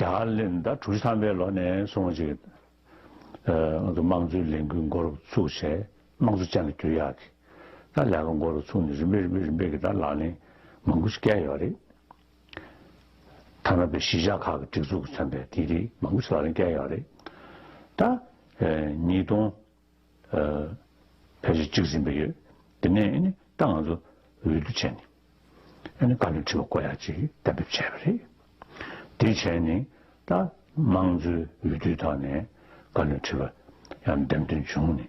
རྒྱ་གར་གླིང་ཟླ་དྲུག་ཅུ་ཐམ་པའི་ལོ་ནས་བཟུང་ཅིག། དམངས་གཙོའི་ལས་འགུལ་མགོ་རུ་ཚུགས་ཆེད་དམངས་གཙོ་ཅན་ལ་འགྱུར་ཡག་གི་ད་ལས་ཀ་མགོ་རུ་ཚུགས་ནས་རིམ་པས་རིམ་པས་རིམ་པས་གི་ད་ལག་ལེན་མང་པོ་ཞིག་བཀལ་ཡོད་རེད། ཐ་ན་པའི་གཞིས་ཆགས་ཁག་གི་སྒྲིག་འཛུགས་ཀྱི་མཚོན་པའི་དེ་རིགས་མང་པོ་ཞིག་ལག་ལེན་བཀལ་ཡོད་རེད། ད། ཉིས་སྟོང། ཕལ་ཆེར་གཅིག་ཟིན་པ་ཡོད། དེ་ནས་ཨེ་ནི་ད་ང་ཚོ་འོས་བསྡུ་བྱས་ནས་ཨེ་ནི་བཀའ་བློན་ཁྲི་བ་བསྐོ་ཡག་ཅིག་གཏན་འབེབས་བྱས་པ་རེད། དེ་བྱས་ནས་ད་དམངས་གཙོའི་འོས་བསྡུའི་ཐོག་ནས་བཀའ་བློན་ཁྲི་བ་ཡང་འདེམས་ཐོན་བྱུང་ནས་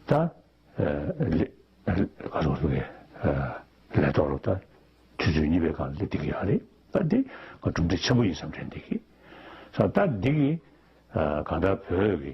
ད་ལས་ཐོག་ལ་དུས་ཚོད་གཉིས་པའི་སྒང་ལ་སླེབས་བསྡད་ཀྱི་ཡོད་རེད། ད་དེ་ང་གྲུབ་འབྲས་ཆེན་པོ་ཡིན་བསམ་དྲན་བསྡད་ཀྱི། ད་འདི་གིས་གང་ལྟར་བོད་ཀྱི་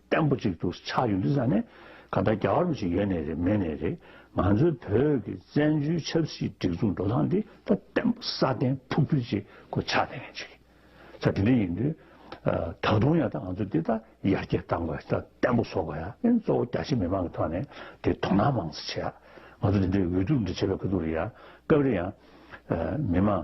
བརྟན་པོ་གཅིག་ཏུ་ཆགས་ཡོད་འདུག་ས་ནས་ག་ལྟར་རྒྱ་གར་བ་ཞིག་ཡོད་ནས་རེད་མེད་ནས་རེད་ང་ཚོའི་བོད་ཀྱི་བཙན་བྱོལ་ཆབ་སྲིད་སྒྲིག་འཛུགས་འགྲོ་སྟངས་འདི་ད་བརྟན་པོ་སྲ་བརྟན་ཕུགས་ཕུལ་ཅིག་གོ་ཆགས་ལྡན་ཡང་ཅིག་ས་དེ་འདྲ་ཡིན་དུས་ད་དུང་ཡང་ད་ང་ཚོ་འདི་ད་ཡར་རྒྱས་བཏང་དགོས་ད་བརྟན་པོ་བཟོ་དགོས་ཡ་ཨེ་གཙོ་བོ་རྒྱ་ཆེ་མི་མང་གི་ཐོག་ནས་དེ་དོ་སྣང་མང་སེ་བྱེད་ཡ་ང་ཚོ་འདི་འདྲའི་འོས་བསྡུ་འདྲ་བྱེད་པའི་ཁ་ཐུག་རེད་ཡ་སྐབས་རེ་ཡང་མི་མང་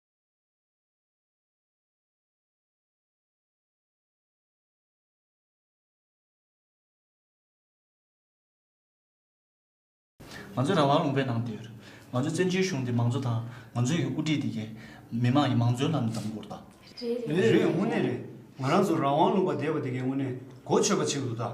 ང་ཚོའི་རང་དབང་ལུང་པའི་ནང་དེར། ང་ཚོའི་བཙན་བྱོལ་གཞུང་འདི་མང་གཙོ་དང་ང་ཚོའི་ཡུལ་དབུ་ཁྲིད་འདི་གའི་མི་དམངས་ཀྱི་མང་གཙོའི་ལམ་ནས་བདམས་དགོས་རེད་དཱ། རེད་རེད་དངོས་གནས་རེད། ང་རང་ཚོ་རང་དབང་ལུང་པ་འདས་པ་འདི་གའི་དངོས་གནས་གོ་ཆོད་པ་ཆེ་གི་འདུག་དཱ།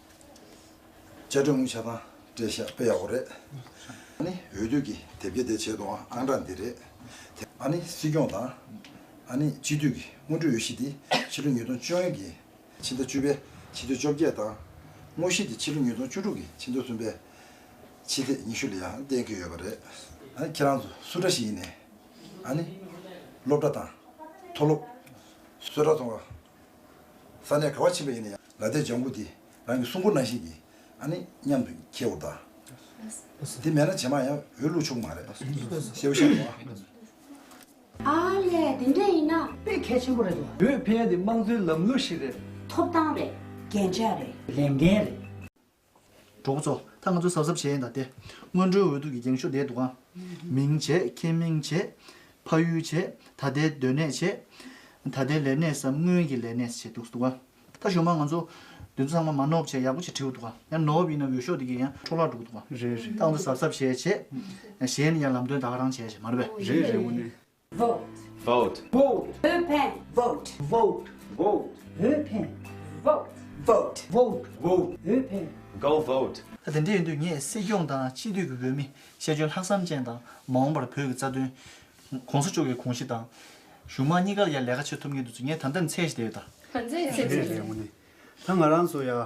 བཅའ་ཁྲིམས་དབུ་ཆ་དང་འབྲེལ་ཞག་པེ་ཡག་པོ་རེད། ཨ་ནི་འོས་བསྡུ་ཀྱི་དེབ་སྐྱེལ་དེ་བྱེད་དུ་འང་ཨང་གྲངས་འདི་རེད། ཨ་ནི་སྲིད་སྐྱོང་དང་ཨ་ནི་སྤྱི་འཐུས་ཀྱི་སྔོན་འགྲོའི་འོས་གཞི་དེ་ཕྱི་ལོ་ཉིས་སྟོང་བཅུ་ཡན་གྱི་ཕྱི་ཟླ་བཅུ་པའི་ཕྱི་ཚེས་བཅོ་བརྒྱད་དང། དངོས་གཞི་དེ་ཕྱི་ལོ་ཉིས་སྟོང་བཅུ་དྲུག་གི་ཕྱི་ཟླ་གསུམ་པའི་ཕྱི་ཚེས་ཉི་ཤུ་ལ་ཡང་གཏན་འཁེལ་ཡོད་པ་རེད། ཨ་ནི་ཁྱེད་རང་ཚོ་སུ་འདྲ་ཞིག་ཡིན་ནས་ཨ་ནི་སློབ་གྲྭ་དང་མཐོ་སློབ། བཟོ་གྲྭ་ཚོ་འང་ས་ནས་ག་བ་ཕྱིན་པ་ཡིན་ན་ཡང་ལ་དེས་ལྗང་གུ་དེ་རང་གི་སྲུང་འཁོར་ནང་བཞིན་གྱིས་ཨ་ནི་སྙམ་དུ་ཁྱེད་འུར་ལྡང། དེ་མེད་ན་ཇེ་མང་ཡང་འུར་ལུག་ཆུག་མ་རེད། ཤེས་བོ་ཤ་བོ། ཨ་ལས་དེ་འདྲས་ཡིན་ན། དཔེ་གལ་ཆེན་པོ་རེད་དོ། བོད་ཕན་དེ་དམངས་གཙོའི་ལམ་ལུགས་ཤིག་རེད། ཐོབ་ཐང་རེད། རྒྱན་ཆ་རེད། ལས་འགན་རེད། གྲོགས་པོ་ཚོ། ད་ང་ཚོ་གཟབ་གཟབ་བྱས་ཡིན་ད་སྟེ། སྔོན་འགྲོའི་འོས་ཐུག་གི་འགེངས་ཤོག་འདེད་འདུག་ཨ། མིང་བྱས་ཁྱེད་མིང་བྱས། ཕ་ཡུལ་བྱས། ད་ལྟའི་སྡོད་གནས་བྱས། ད་ལྟའི་ལས་གནས་སམ་སྔོན་གྱི་ལས་གནས་བྱས་འདུག་ཨ། ད་ཞོག་མ་ང་ཚོ། དེ་ཚོ་ཚང་མ་མ་ནོབ་བྱས་ཡག་པོ་བྱས་བྲིས་འདུག་ཨ། ཡང་ནོབ་ཡིན་ན་འོས་ཤོག་དེ་གས་ཡང་འཕྲོ་བརླག་འགྲོ་གི་འདུག་ཨ། ད་ང་ཚོ་གཟབ་གཟབ་བྱས་བྱས། གཞན་ནི་ཡང་ལམ་སྟོན་ད་ག་རང་བྱས་བྱས་མ་རེད་པས། རེད་རེད་དངོས་གནས། vote vote vote བོད་ཕན vote vote vote བོད་ཕན vote vote vote vote བོད་ཕན go vote ད་དེ་འདྲ་ཡིན་དུས་ངས་སྲིད་སྐྱོང་དང་སྤྱི་འཐུས་ཀྱི་འོས་མི་ཤེས་འཇོན་ལྷག་བསམ་ཅན་དང་མ་འོངས་པར་བོད་ཀྱི་རྩ་དོན། གོང་ས་མཆོག་གི་གོང་གཞི་དང། གཞུང་མང་གཉིས་ཀར་ཡང་ལས་ཀ་བྱེད་ཐུབ་ངེས་འདུག་ངས་ད་ལྟའི་ནས་ཚད་གཞི་དེ་ཡོད་ད། ད་ཚད་གཞི་དེ་ཡོད། ད་ང་རང་ཚོ་ཡང